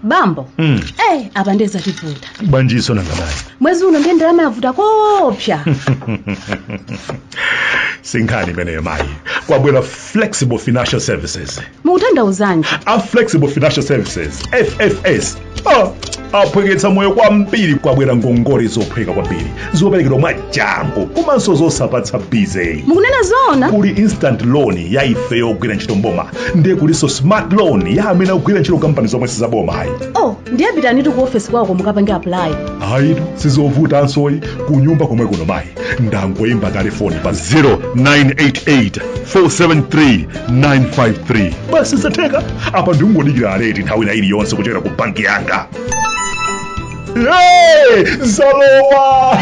bambo Mm. eh apa ndiye zativuta basitu nangabaye mwezi uno ndiye ndalama yavuta koopsa si nkhani imeneyo mayi kwabwera flexible financial services mukutanthauzanji a flexible financial services ffs Ah, aphweketsa moyo kwambiri kwabwera ngongole zophweka kwambiri zoperekedwa mwachangu komanso zosapatsa busy mukunena zoona kuli instant loan ya ife yogwira ntchito m'boma ndiye kulinso smart loan ya amene akugwira ntchito m'kampani zomwe sizaboma ayi oh ndiye pitanitu ku ofesi kwako mukapange apply ayitu sizovutanso ayi kunyumba komwe kuno mayi ndangoyimba telefoni pa 0988 473 953 basi zatheka apa ndingodikira alert nthawi ina iliyonse kuchokera ku banki yanga Hey, zalowa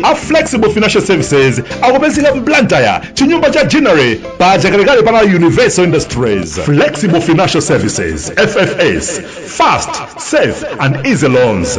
a flexible financial services akupezeka m'Blantyre m'chinyumba cha jinere pa Chakalekale pana universal industries flexible financial services ffs fast safe and easy loans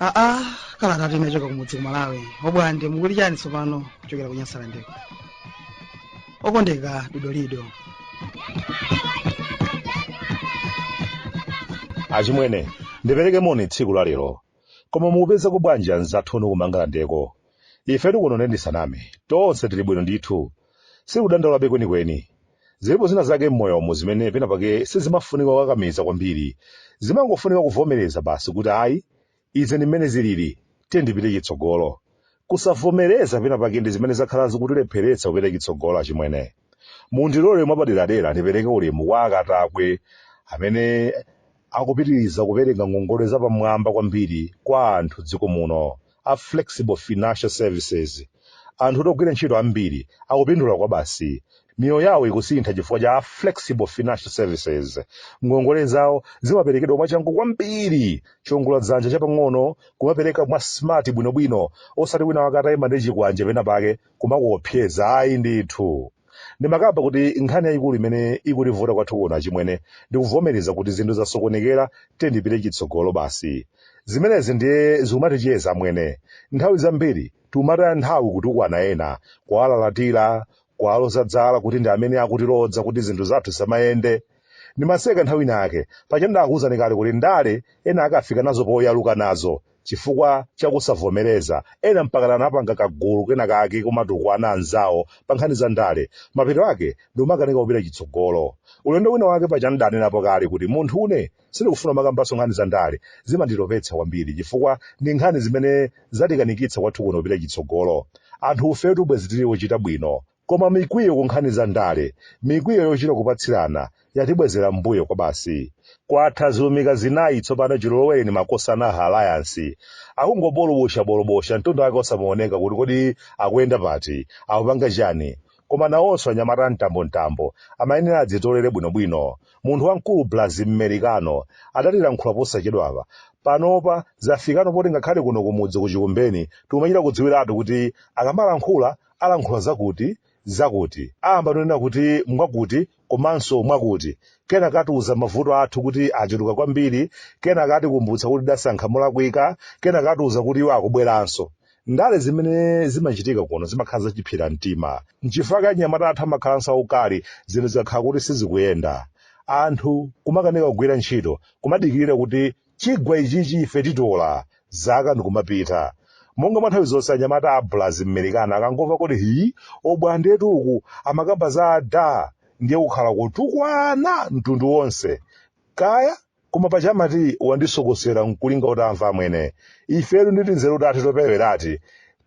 aa kalata yochoka kumudzi ku malawi abwande mukuli chani tsopano kuchokera ku Nyasalandeko okondeka dodolido achimwene ndipereke moni tsiku la lero koma mukupeza bwanji mzathu inu ku Mangalandeko ife kuno ndisaname tonse tili bwino ndithu Sikudandaulabe kwenikweni. Zilipo zina zake m'moyomu zimene pena pake sizimafunika kukakamiza kwambiri. Zimangofunika kuvomereza basi kuti ayi, izi ndi mmene zilili, tiye ndipite chitsogolo. Kusavomereza pena pake ndi zimene zakhala zikutilepheretsa kupita chitsogolo achimwene. Mundilole mwapaderadera ndipereke ulemu kwa akatakwe amene akupitiliza kupereka ngongole zapamwamba kwambiri kwa anthu m'dziko muno a flexible financial services anthu ogwira ntchito ambiri akupindula kwabasi miyoyo yawo ikusintha chifukwa cha a flexible financial services ngongole zawo zimaperekedwa mwachangu kwambiri chiwongola dzanja chapang'ono kumapereka mwa smart bwinobwino osati wina wake atayima ndi chikwanje pena pake kumakuopseza ayi ndithu ndimakamba kuti nkhani yayikulu imene ikutivuta kwathu kuno achimwene ndikuvomereza kuti zinthu zasokonekera tiye ndipite chitsogolo basi zimenezi ndiye zikumatichedwetsa amwene nthawi zambiri tikumataya nthawi kutukwana ena kuwalalatira kuwaloza zala kuti ndi amene akutilodza kuti zinthu zathu zisamayende ndimaseka nthawi inayake paja ndakuwuzani kale kuti ndale ena akufika nazo poyaluka nazo Chifukwa cha kusavomereza, ena mpakana anapanga kagulu kenakake kumatukwana anzawo pankhani za ndale. Mapeto ake, ndikumakanika kupita chitsogolo. Ulendo wina wake paja n'danenapo kale kuti munthune sindikufuna kumakambanso nkhani za ndale, zimanditopetsa kwambiri chifukwa ndi nkhani zimene zatikanikitsa kwathu kuno kupita chitsogolo. Anthufetu bwezi tili ochita bwino Koma mikwiyo ku nkhani za ndale, mikwiyo yochita kupatsirana, yatibwezera m'mbuyo kwabasi. Kwatha zilumika zinayi tsopano chilolowereni makosana a Alliance. Akungobolobosha bolobosha mtundu wake osamaoneka kuti kodi akuyenda pati, akupanga chani. Koma nawonso anyamata a mtambomtambo amayenera adzitolere bwino bwino. Munthu wamkulu Blazi Mmerikano adatilankhula posachedwapa. Panopa zafikano poti ngakhale kuno kumudzi ku Chikumbeni tikumachita kudziwiratu kuti akamalankhula alankhula zakuti, zakuti, ayamba kunena kuti mwakuti komanso mwakuti, kenaka atiuza mavuto athu kuti achuluka kwambiri, kenaka atikumbutsa kuti tidasankha molakwika, kenaka atiuza kuti iwo akubweranso. Ndale zimene zimachitika kuno zimakhala zachiphira mtima. Nchifukwa chake anyamata athu amakhalanso aukali zinthu zikakhala kuti sizikuyenda. Anthu kumakanika kugwira ntchito, kumadikirira kuti chigwa ichichi ife titola zaka ndikumapita monga mwa nthawi zonse anyamata a blazi mmerikano akangomva kuti hi obwandetu uku amakamba za ada ndiye kukhala kutukwana mtundu wonse kaya koma paja amati wandisokosera nkulinga utamva amwene ifetu nditi nzeru tathu toperewerati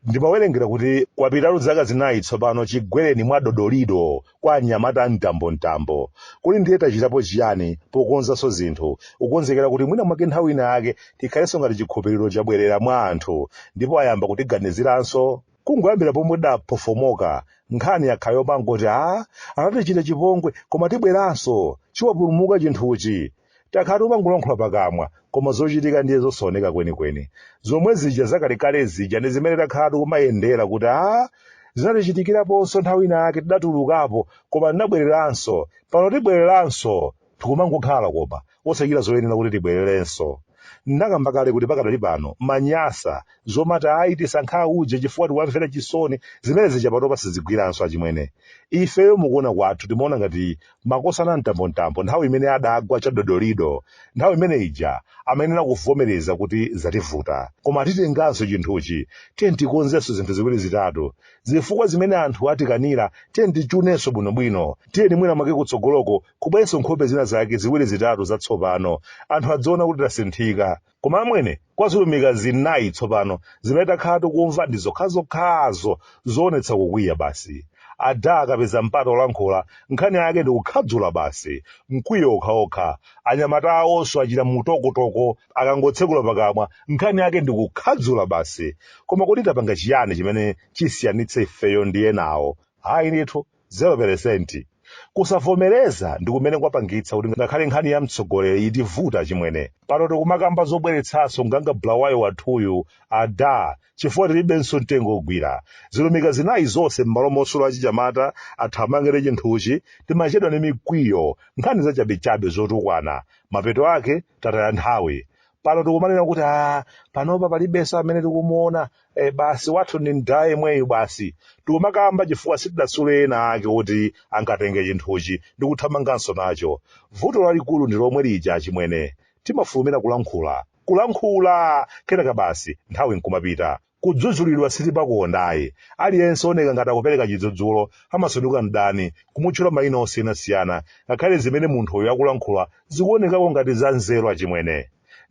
Ndimawerengera kuti kwapitatu zaka zinayi tsopano chigwereni mwa dodolido kwa anyamata a mtambomtambo. Kodi ndiye tachitapo chiyani pokonzanso zinthu, kukonzekera kuti mwina mwake nthawi ina yake tikhalenso ngati chikhulupiriro chabwerera mwa anthu ndipo ayamba kutiganiziranso? Kungoyambira pomwe tidaphofomoka, nkhani yakhala yopangoti, Aa, Anatichita chipongwe, koma tibweranso. Chiwapulumuka chinthuchi. takhala tikumangolankhula pakamwa koma zochitika ndiye zosaoneka kwenikweni zomwe zija zakalekale zija ndi zimene takhala tikumayendera kuti a zinatichitikiraponso nthawi ina yake tidatulukapo koma tinabwereranso pano tibwereranso tikumangokhala koma osachita zoyenera kuti tibwererenso ndakamba kale kuti pakadali pano manyasa zomati ayi tisankha uje chifukwa tiwamvera chisoni zimene zija patopa sizikugwiranso achimwene ifeyo mukuona kwathu timaona ngati makosana a mtambomtambo nthawi imene adagwa chadodolido nthawi imene ija amayenera kuvomereza kuti zativuta koma titenganso chinthuchi tiyeni tikonzenso zinthu ziwiri zitatu zifukwa zimene anthu atikanira tiyeni tichunenso bwinobwino tiyeni mwina mwake kutsogoloko kubwerenso nkhope zina zake ziwiri zitatu zatsopano anthu adziona kuti tasinthika Koma amwene, kwa zilumika zinayi tsopano zimene takhala tikumva ndi zokhazokhazo zoonetsa kukwiya basi. Adaa akapeza mpata olankhula, nkhani yake ndi kukhadzula basi, mkwiyo okhaokha. Anyamata awonso achita mutokotoko akangotsekula pakamwa, nkhani yake ndi kukhadzula basi. Koma kuti tapanga chiyani chimene chisiyanitse ifeyo ndi enawo? Ayi ndithu. 0%. Kusavomereza ndi kumene kwapangitsa kuti ngakhale nkhani ya mtsogoleri itivuta achimwene. Pano tikumakamba zobweretsanso Nganga Bulawayo wathuyu, ada, chifukwa tilibenso mtengo ogwira. Zilumika zinayi zonse m'malo mosula achinyamata athamange ndi chinthuchi, timachedwa ndi mikwiyo, nkhani zachabechabe zotukwana. Mapeto ake tataya nthawi pano tikumanena kuti a panopa palibenso amene tikumuona e, basi wathu ndi mdala yemweyo basi tikumakamba chifukwa sitidasule ena ake kuti angatenge chinthuchi ndi kuthamanganso nacho vuto lalikulu ndi lomwe lija chimwene timafulumira kulankhula kulankhula kenaka basi nthawi nkumapita Kudzudzulidwa sitipakukonda ayi. Aliyense ooneka ngati akupereka chidzudzulo amasanduka mdani, kumutchula maina osiyanasiyana, ngakhale zimene munthuyo akulankhula zikuonekako ngati za nzeru achimwene.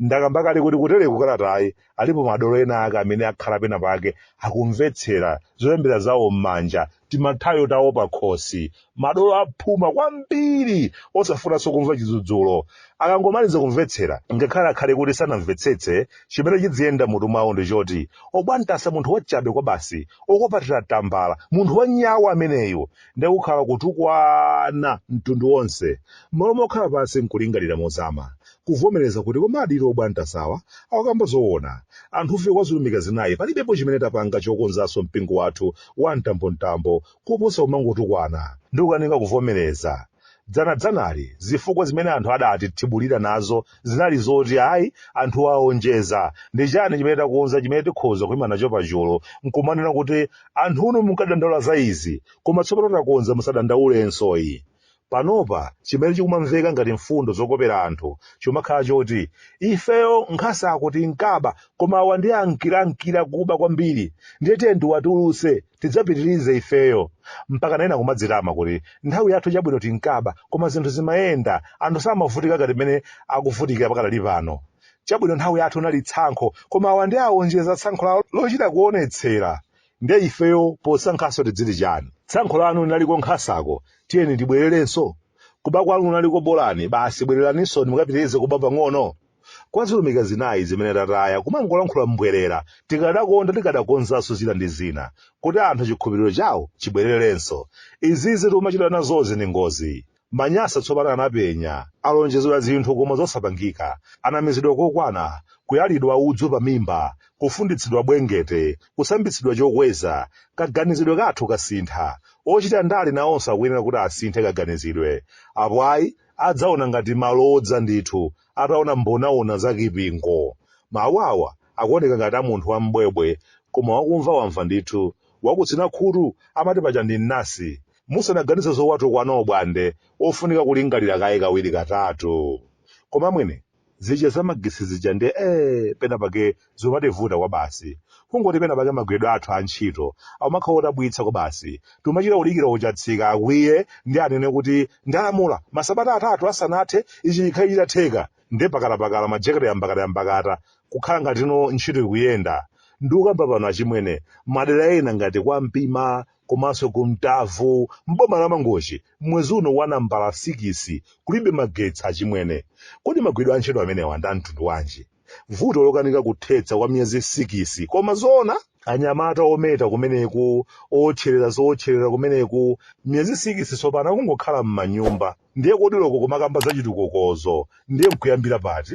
Ndakamba kale kuti kutereku kalatayi alipo madolo ena ake amene akhala pena pake akumvetsera, zolembera zawo m'manja timathayo tawo pakhosi madolo aphuma kwambiri osafunanso kumva chidzudzulo akangomaliza kumvetsera ngakhale akhale kuti sanamvetsetse chimene chidziyenda mutu mwawo ndi choti obwantasa munthu wachabe kwa basi okopatira tambala munthu wanyau ameneyo ndiye kukhala kutukwana mtundu wonse mmalo mokhala pansi nkulingalira mozama kuvomeleza kuti komadi Obwantasawa akukamba zowona, anthufe kwa zilumika zinayi palibepo chimene tapanga chokonzanso mpingo wathu wa mtambo mtambo kuposa kumangotukwana ndikukanika kuvomeleza dzana dzanali zifukwa zimene anthu adatithibulira nazo zinali zoti ayi anthuwa awonjeza ndichani chimene takonza chimene tikhoza kuima nacho pachulu nkumanena kuti anthunu munkadandaula za izi koma tsopano takonza musadandaulenso ayi Panopa chimene chikumamveka ngati mfundo zokopera anthu chikumakhala choti, Ifeyo nkhasako tinkaba koma awa ndiye amkiramkira kuba kwambiri ndiye tiyeni tiwatulutse tidzapitirize ifeyo. Mpakana ena kumadzitama kuti, Nthawi yathu chabwino tinkaba koma zinthu zimayenda, anthu samavutika ngati mmene akuvutikira pakadali pano. Chabwino nthawi yathu linali tsankho koma awa ndiye awonjeza tsankho lawo lochita kuonetsera. nde ifeyo posankhanso tidziti chani tsankho lanu linaliko nkhasako tiyeni tibwererenso kuba kwanu kunaliko bolani basi bwereraninso mukapitirize kuba pang'ono kwa zilumika zinayi zimene tataya kumangolankhula mbwerera tikadakonda tikadakonzanso zina ndi zina kuti anthu chikhulupiriro chawo chibwererenso izizi tikumachita nazozi ndi ngozi Manyasa tsopano anapenya, alonjezedwa zinthu koma zosapangika, anamizidwa kokwana, kuyalidwa udzu pamimba, kufunditsidwa bwengete, kusambitsidwa chokweza, kaganizidwe kathu kasintha, ochita ndale nawonso akuyenera kuti asinthe kaganizidwe, apo ayi adzaona ngati malodza ndithu ataona mbonaona za Kipingo. Mawu awa akuoneka ngati a munthu wam'bwebwe koma wakumva wamva ndithu, wakutsina khutu amati paja ndi mnasi. Musanaganize zowatukwana obwande ofunika kulingalira kaye kawiri katatu. Koma mwene, zija za magesi zija nde ee pena pake zumativuta kwabasi. Kungoti pena pake magwiridwe athu a ntchito akumakhala odabwitsa kwabasi. Tikumachita kudikira ochatsika akwiye ndiye anene kuti ndalamula masabata atatu asanathe ichi chikhale chitatheka. Nde pakalapakala majekete yambakatayambakata kukhala ngati ntchito ikuyenda. Ndikukamba pano achimwene, madera ena ngati kwa Mpima, komanso ku Mtavu m'boma la Mangochi m'mwezi uno wa nambala sikisi kulibe magetsi achimwene. Kodi magwidwe a ntchito amenewa ndi a mtundu wanji? Vuto lokanika kuthetsa kwa miyezi sikisi koma zoona? Anyamata ometa kumeneku, owotcherera zowotcherera kumeneku, miyezi sikisi tsopano akungokhala m'manyumba. Ndiye kodi loko kumakamba zachitukukozo ndiye n'kuyambira pati?